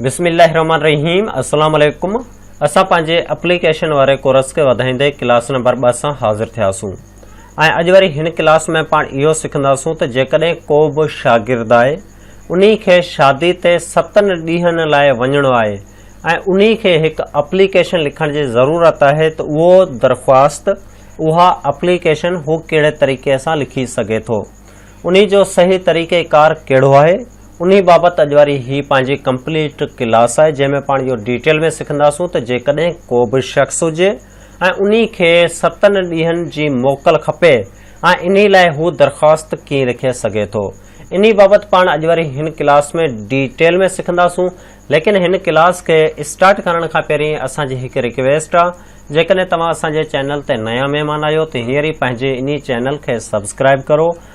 بسم الله الرحمن الرحيم السلام عليڪم اسان پنهنجي اپليڪيشن واري ڪورس کي وڌائيندي ڪلاس نمبر ٻه سان حاضر ٿياسون ۽ اڄ وري هن ڪلاس ۾ پاڻ اهو سکنداسون ته جيڪڏهن ڪو به شاگرد آهي انهي کي شادي تي ستن ڏينهن لاء وڃڻو آهي ۽ انهي کي هڪ اپليڪيشن لکڻ جي ضرورت آهي ته اهو درخواست اها اپليڪيشن هو ڪهڙي طريقي سان لکي سگهي ٿو انهي جو صحيح طريقي ڪار ڪهڙو آهي انهي بابت اڄ واري هي پنهنجي ڪمپليٽ ڪلاس آهي جنهن ۾ پاڻ اهو ڊيٽيل ۾ سکنداسون ته جيڪڏهن ڪو به شخص هجي ۽ انهي کي ستن ڏينهن جي موڪل کپي ۽ انهي لاء هو درخواست ڪيئن لکي سگهي ٿو انهي بابت پاڻ اڄ واري هن ڪلاس ۾ ڊيٽيل ۾ سکنداسون ليڪن هن ڪلاس کي اسٽارٽ ڪرڻ کان پهرين اسان جي هڪ رڪويسٽ آهي جيڪڏهن توهان اسان جي چينل تي نيا مهمان آهيو ته هينئر ئي پنهنجي انهي چينل کي سبسڪرائيب ڪرو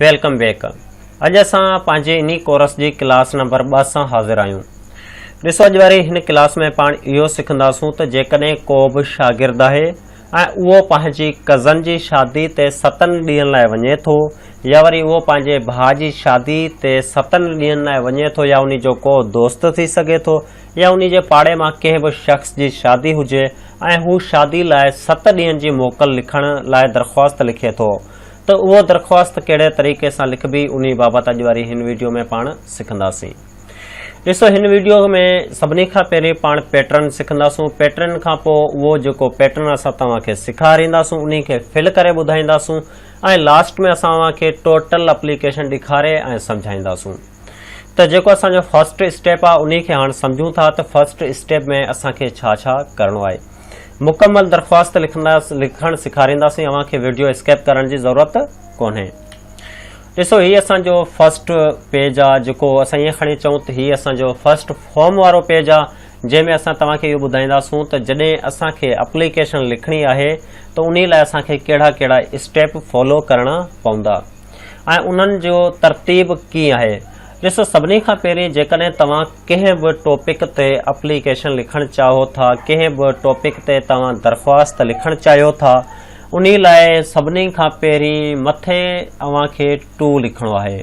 ويلڪم بيڪ اڄ اسان پنهنجي انهي ڪورس جي ڪلاس نمبر ٻه سان حاضر آهيون ڏسو اڄ واري هن ڪلاس ۾ پاڻ اهو سکنداسون ته جيڪڏهن ڪو به شاگرد آهي ۽ اهو پنهنجي ڪزن جي شادي تي ستن ڏينهن لاء وڃي ٿو يا وري اهو پنهنجي ڀاء جي شادي تي ستن ڏينهن لاء وڃي ٿو يا انهي جو ڪو دوست ٿي سگهي ٿو يا انهي جي پاڙي مان ڪنهن به شخص جي شادي هجي ۽ هو شادي لاء ست ڏينهن جي موڪل لکڻ لاء درخواست لکي ٿو ته اهو درخواست ڪهڙي طريقي سان لکبي انهي بابت اڄ واري هن ويڊيو ۾ پاڻ سکنداسين. ڏسو هن ويڊيو ۾ سڀني کان پهرين پاڻ پيٽرن سکنداسون پيٽرن کان پوء اهو جيڪو پيٽرن اسان توهان کي سيکارينداسون انهي کي فل ڪري ٻڌائينداسون ۽ لاسٽ ۾ اسان اوهان کي ٽوٽل اپليڪيشن ڏيکاري ۽ سمجهائينداسون ته جيڪو اسان جو فرسٽ اسٽيپ آهي انهي کي هاڻ سمجهون ٿا ته فرسٽ اسٽيپ ۾ اسان کي ڇا ڇا ڪرڻو آهي. مڪمل درخواست لکڻ سيکارينداسين اوهان کي ويڊيو اسڪيپ ڪرڻ جي ضرورت ڪونهي ڏسو هي اسان جو فرسٽ پيج آ جيڪو اسان ائين کڻي چون ته هي اسان جو فرسٽ فارم وارو پيج آ جنهن ۾ اسان توهان کي اهو ٻڌائينداسون ته جڏهن اسان کي اپليڪيشن لکڻي آهي ته انهي لاء اسان کي ڪهڙا ڪهڙا اسٽيپ فالو ڪرڻا پوندا ۽ انهن جو ترتيب ڪيئن آهي. ڏسو سڀني کان پهرين جيڪڏهن توهان ڪنهن به ٽاپڪ تي اپليڪيشن لکڻ چاهو ٿا ڪنهن به ٽاپڪ تي توهان درخواست لکڻ چاهيو ٿا انهي لاء سڀني کان پهرين مٿي اوهان کي ٽو لکڻو آهي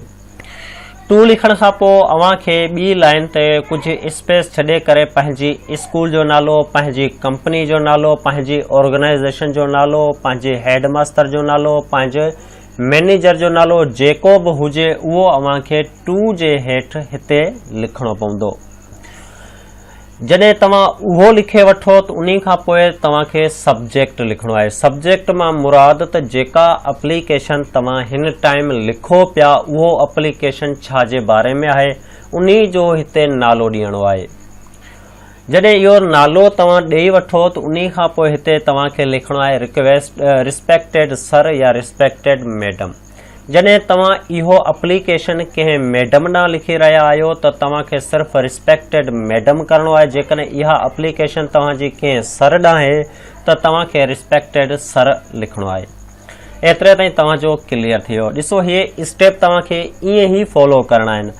ٽو لکڻ کان پوء اوهان کي ٻي لائن تي ڪجهه اسپيس ڇڏي ڪري پنهنجي اسڪول جو نالو پنهنجي ڪمپني جو نالو پنهنجي آرگنائيزيشن جو نالو پنهنجي هيڊ ماستر جو نالو پنهنجي مئنيجر جو نالو جيڪو به هجي اهو اوهان کي ٽو جي هيٺ هتي لکڻو پوندو. جڏهن توهان اهو لکي وٺو ته انهي کان پوء توهان کي سبجيڪٽ لکڻو آهي. سبجيڪٽ مان مراد ته جيڪا اپليڪيشن توهان هن ٽائيم لکو پيا اهو اپليڪيشن ڇا جي باري ۾ آهي انهي جو هتي نالو ڏيڻو آهي. جڏهن اهو نالو توهان ڏئي وٺو ته انهي کان پوء هتي توهان کي لکڻو آهي رڪويسٽ Respected Sir يا Respected Madam جڏهن توهان اهو اپليڪيشن ڪنهن ميڊم ڏانهن لکي رهيا آهيو ته توهان کي صرف Respected Madam ڪرڻو آهي جيڪڏهن اها اپليڪيشن توهان جي ڪنهن سر ڏانهن آهي ته توهان کي Respected Sir لکڻو آهي. ايتري تائين توهان جو ڪليئر ٿي ويو ڏسو هي اسٽيپ توهان کي ائين ئي فالو ڪرڻا آهن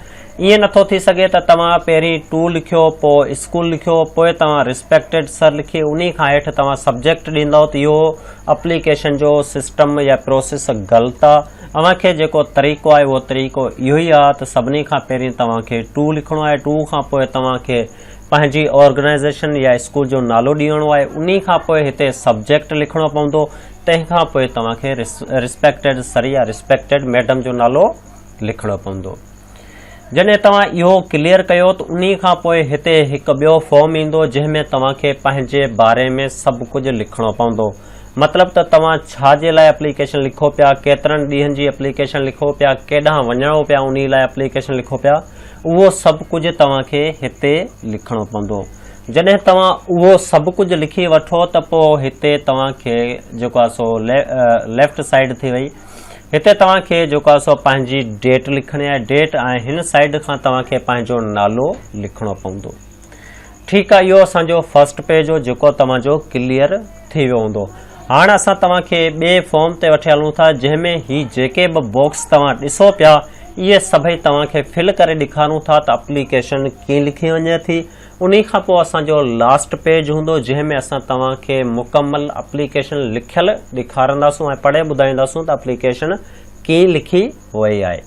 ائين نٿو ٿي سگهي ته توهان پهرين ٽو لکيو پوء اسڪول لکيو پوء توهان رسپيڪٽيڊ سر لکي انهي کان هيٺ توهان سبجيڪٽ ڏيندؤ ته اهو اپليڪيشن جو سسٽم يا پروسيس غلط آ اوهان کي جيڪو طريقو آهي اهو طريقو اهو ئي آ ته سڀني کان پهرين توهان کي ٽو لکڻو آهي ٽو کان پوء توهان کي پنهنجي آرگنائيزيشن يا اسڪول جو نالو ڏيڻو آهي انهي کان پوء هتي سبجيڪٽ لکڻو پوندو تنهن کان پوء توهان کي رسپيڪٽيڊ سر يا رسپيڪٽيڊ ميڊم جو نالو لکڻو پوندو جڏهن توهان اهو ڪليئر ڪيو ته انهي کان پوء هتي هڪ ٻيو فارم ايندو جنهن ۾ توهان کي پنهنجي باري ۾ سڀ ڪجهه لکڻو پوندو مطلب ته توهان ڇا جي لاء اپليڪيشن لکو پيا ڪيترن ڏينهن جي اپليڪيشن لکو پيا ڪيڏانهن وڃڻو پيا انهي لاء اپليڪيشن لکو پيا اهو سڀ ڪجهه توهان کي هتي لکڻو پوندو جڏهن توهان اهو سڀ ڪجهه لکي وٺو ته پوء هتي توهان کي جيڪو آهي سو ليفٽ سائيڊ ٿي وئي هتي توهان کي جيڪو آهي سو پنهنجي ڊيٽ لکڻي آهي ڊيٽ ۽ هن سائيڊ کان توهان کي پنهنجو نالو لکڻو پوندو ٺيڪ آ اهو اسان جو فرسٽ پيج هو جيڪو توهان جو ڪليئر ٿي ويو هوندو هاڻ اسان توهان کي ٻي فارم تي وٺي هلون ٿا جنهن ۾ هي جيڪي به باڪس توهان ڏسو پيا اهي سڀئي توهان کي فل ڪري ڏيکارون ٿا ته اپليڪيشن ڪيئن لکي وڃي ٿي انهي کان پوء اسان جو لاسٽ پيج هوندو جنهن ۾ اسان توهان کي مڪمل اپليڪيشن لکيل ڏيکارنداسون ۽ پڙهي ٻڌائينداسون ته اپليڪيشن ڪيئن لکي اهو ئي آهي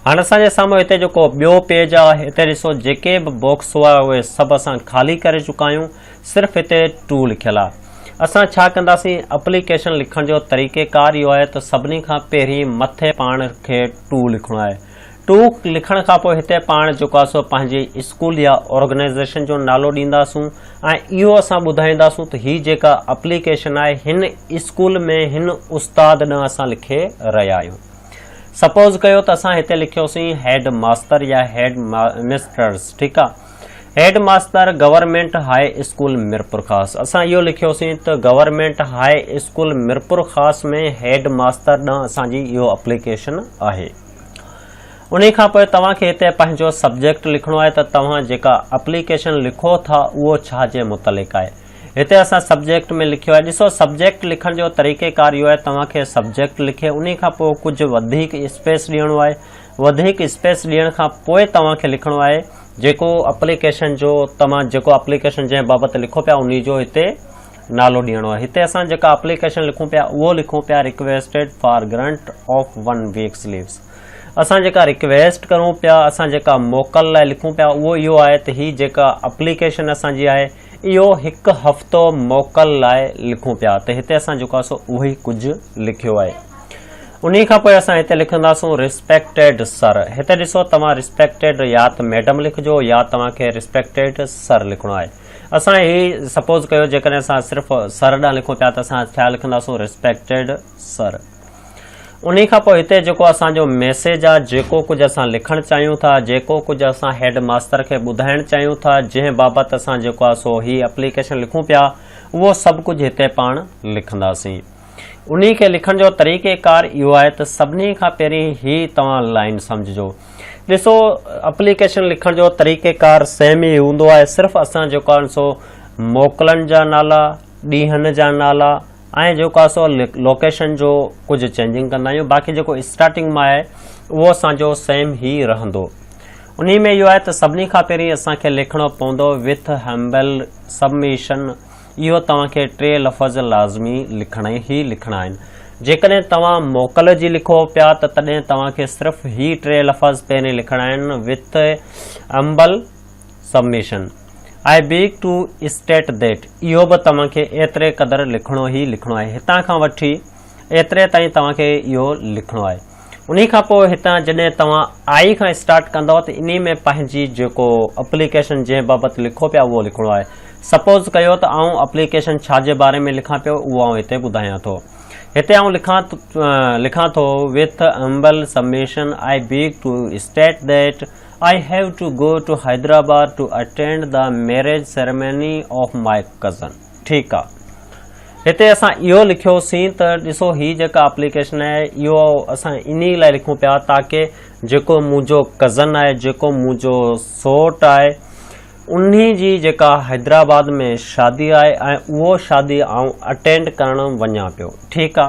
هاڻي اسان جي سامهون هتي جيڪو ٻيو پيج آهي هتي ڏسو جيڪي به باڪس هئا اهي سڀ اسان خالي ڪري چڪا آهيون صرف هتي ٽو لکيل آهي اسان ڇا ڪنداسين اپليڪيشن لکڻ جو طريقي ڪار اهو آهي ته سڀني کان پهرين مٿي پاڻ کي ٽو لکڻو آهي ٽو لکڻ کان پوء هتي پاڻ جيڪو آهي سو پنهنجي اسڪول يا آرگنائزيشن جو نالو ڏينداسون ۽ اهو اسان ٻڌائينداسون ته هي جيڪا اپليڪيشن آهي هن اسڪول ۾ هن استاد ڏانهن اسان لکي رهيا آهيون سپوز ڪيو ته اسان هتي لکيوسين هيڊ ماستر يا هيڊ مسٽرس ٺيڪ آ headmaster government high school Mirpur Khas اسان اهو لکيوسين ته government high school Mirpur Khas ۾ head master ڏانهن اسان جي اهو اپليڪيشن آهي انهي کان پوء توهان کي هتي پنهنجو سبجيڪٽ لکڻو آهي ته توهان جيڪا اپليڪيشن لکو ٿا اهو ڇا جي متعلق آهي. هتي اسان سبجيڪٽ ۾ لکيو آهي. ڏسو سبجيڪٽ لکڻ جو طريقيڪار اهو آهي توهان کي سبجيڪٽ لکي انهي کان پوء ڪجهه وڌيڪ اسپيس ڏيڻو آهي. وڌيڪ اسپيس ڏيڻ کان پوء توهان کي لکڻو آهي. جيڪو اپليڪيشن جو توهان جيڪو اپليڪيشن جنهن بابت لکو پيا انهي جو هتي نالو ڏيڻو آهي. هتي اسان جيڪا اپليڪيشن لکون پيا اهو لکون پيا requested for grant of one weeks leaves. اسان جيڪا رڪويسٽ ڪرون پيا اسان جيڪا موڪل لاء لکون پيا اهو اهو آهي ته هي جيڪا اپليڪيشن اسان جي آهي اهو هڪ هفتو موڪل لاء لکون پيا ته هتي اسان جيڪو سو اهو ئي ڪجهه لکيو آهي انهي کان پوء اسان هتي لکنداسون رسپيڪٽيڊ سر هتي ڏسو توهان رسپيڪٽيڊ يا ته ميڊم لکجو يا توهان کي رسپيڪٽيڊ سر لکڻو آهي اسان هي سپوز ڪيو جيڪڏهن اسان صرف سر ڏانهن لکون پيا ته اسان ڇا لکنداسون رسپيڪٽيڊ سر انهي کان پوء هتي جيڪو اسان جو ميسيج آ، جيڪو ڪجهه اسان لکڻ چاهيون ٿا، جيڪو ڪجهه اسان هيڊ ماستر کي ٻڌائڻ چاهيون ٿا، جنهن بابت اسان جيڪو آ سو هي اپليڪيشن لکون پيا، اهو سڀ ڪجهه هتي پاڻ لکنداسين. انهي کي لکڻ جو طريقي ڪار اهو آهي ته سڀني کان پهرين هي توهان لائين سمجهجو. ڏسو اپليڪيشن لکڻ جو طريقي ڪار سيم ئي هوندو آهي، صرف اسان جيڪو آهن سو موڪلن جا نالا، ڏينهن جا نالا، ۽ جيڪو آهي سو لوڪيشن جو ڪجهه چينجنگ ڪندا آهيون باقي جيڪو اسٽارٽنگ مان آهي اهو اسان جو سيم هي رهندو انهي ۾ اهو آهي ته سڀني کان پهرين اسان کي لکڻو پوندو وٿ هيمبل سبميشن اهو توهان کي ٽي لفظ لازمي لکڻا هي لکڻا آهن جيڪڏهن توهان موڪل جي لکو پيا ته تڏهن توهان کي صرف هي ٽي لفظ پهرين لکڻا آهن with humble submission I beg to state that اهو به توهان کي ايتري قدر لکڻو هي لکڻو آهي هتان کان وٺي ايتري تائين توهان کي اهو لکڻو آهي انهي کان پوء هتان جڏهن توهان آئي کان اسٽارٽ ڪندو ته انهي ۾ پنهنجي جيڪو اپليڪيشن جنهن بابت لکو پيا اهو لکڻو آهي سپوز ڪيو ته آئون اپليڪيشن ڇا جي باري ۾ لکان پيو اهو آئون هتي ٻڌايان ٿو هتي آئون لکان لکان ٿو with humble submission I beg to state that I have to go to Hyderabad to attend the marriage ceremony of my cousin. ٺيڪ آ. هتي اسان اهو لکيو سين ته ڏسو هي جيڪا اپليڪيشن آهي اهو اسان انهي لاء لکون پيا تاڪه جيڪو منهنجو ڪزن آهي جيڪو منهنجو سوٽ آهي انهي جي جيڪا حيدرآباد ۾ شادي آهي ۽ اهو شادي آئون اٽينڊ ڪرڻ وڃان پيو ٺيڪ آ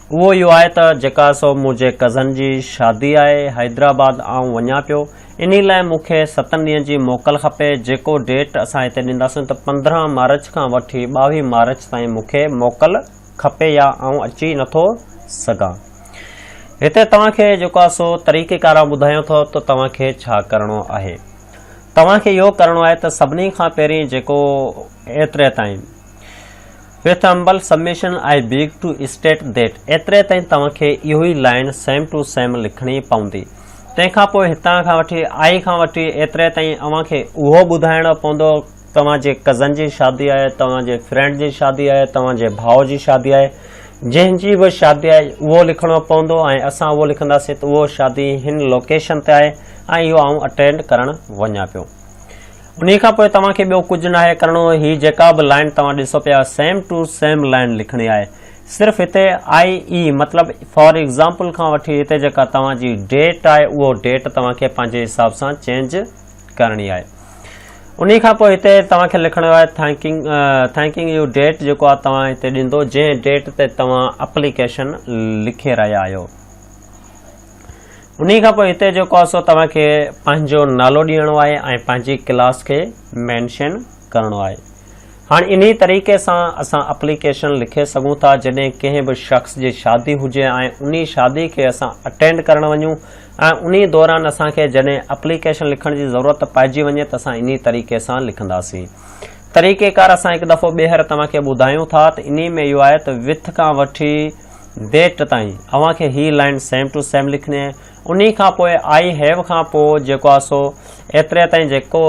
اهو اهو آهي ته جيڪا سو منهنجي ڪزن جي شادي آهي حيدرآباد آئون وڃان پيو انهي لاء مون کي ستن ڏينهن جي موڪل کپي جيڪو ڊيٽ اسان هتي ڏينداسون ته پندرهن مارچ کان وٺي ٻاوهي مارچ تائين مون کي موڪل کپي يا آئون اچي نٿو سگهان هتي توهان کي جيڪو آهي سو طريقي ڪار ٻڌايان ٿو ته توهان کي ڇا ڪرڻو آهي توهان کي اهو ڪرڻو آهي ته سڀني کان پهرين جيڪو ايتري تائين with humble submission I beg to state that ايتري تائين توهان کي اهو ئي لائن سيم ٽو سيم لکڻي پوندي تنهن کان پوء هتان کان وٺي آء کان وٺي ايتري تائين اوهان کي اهو ٻڌائڻو پوندو توهان جي ڪزن جي شادي آهي توهان جي فرينڊ جي شادي آهي توهان جي ڀاء جي شادي آهي جنهن جي به شادي آهي اهو لکڻو پوندو ۽ اسان اهو لکنداسين ته اهو شادي هن لوڪيشن تي آهي ۽ اهو آئون اٽينڊ ڪرڻ وڃان پيو انهي کان پوء توهان کي ٻيو ڪجهه ناهي ڪرڻو هي جيڪا به لائين توهان ڏسو پيا سيم ٽو سيم لائين لکڻي آهي صرف هتي آئي اي مطلب فار ايگزامپل کان وٺي هتي جيڪا توهان جي ڊيٽ آهي اهو ڊيٽ توهان کي پنهنجي حساب سان چينج ڪرڻي آهي انهي کان پوء هتي توهان کي لکڻو آهي ٿينڪنگ ٿينڪنگ يو ڊيٽ جيڪو آهي توهان هتي ڏيندو جنهن ڊيٽ تي توهان اپليڪيشن لکي رهيا آهيو انهي کان پوء هتي جيڪو آهي سو توهان کي پنهنجو نالو ڏيڻو آهي ۽ پنهنجي ڪلاس کي مينشن ڪرڻو آهي هاڻ انهي طريقي سان اسان اپليڪيشن لکي سگهون ٿا جڏهن ڪنهن به شخص جي شادي هجي ۽ انهي شادي کي اسان اٽينڊ ڪرڻ وڃون ۽ انهي دوران اسان کي جڏهن اپليڪيشن لکڻ جي ضرورت پائجي وڃي ته اسان انهي طريقي سان لکنداسين طريقي ڪار اسان هڪ دفعو ٻيهر توهان کي ٻڌايون ٿا ته انهي ۾ اهو آهي ته وٿ کان وٺي ڊيٽ تائين اوهان کي هي لائين سيم ٽو سيم لکڻي آهي انهي کان پوء آئي هيو کان پوء جيڪو آهي سو ايتري تائين جيڪو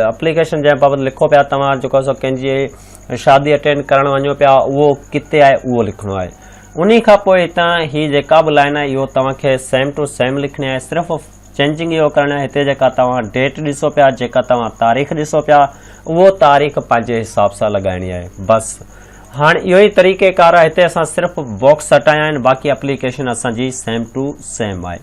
اپليڪيشن جنهن بابت لکو پيا توهان جيڪو آهي سو ڪنهن جي شادي اٽينڊ ڪرڻ وڃو پيا اهو ڪتي آهي اهو لکڻو آهي انهي کان پوء هتان هي جيڪا به لائين آهي اهو توهان کي سيم ٽو سيم لکڻي آهي صرف چينجنگ اهو ڪرڻ آهي هتي جيڪا توهان ڊيٽ ڏسو پيا جيڪا توهان تاريخ ڏسو پيا اهو تاريخ پنهنجي حساب سان لڳائڻي آهي بس هاڻ اهو ئي طريقي ڪار آهي هتي اسان صرف باڪس هٽايا آهن باقي اپليڪيشن اسان جي سيم ٽو سيم آهي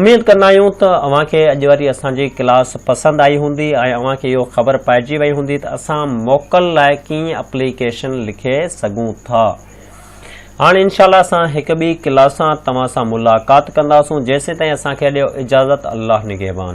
اميد ڪندا آهيون ته اوهان کي اڄ واري اسان جي ڪلاس پسند آئي هوندي ۽ اوهان کي اهو خبر پائجي وئي هوندي ته اسان موڪل لاء ڪيئن اپليڪيشن لکي سگهون ٿا هاڻ انشاء الله اسان هڪ ٻي ڪلاس سان توهان سان ملاقات ڪنداسون جيسين تائين اسان کي ڏيو اجازت الله نگهبان.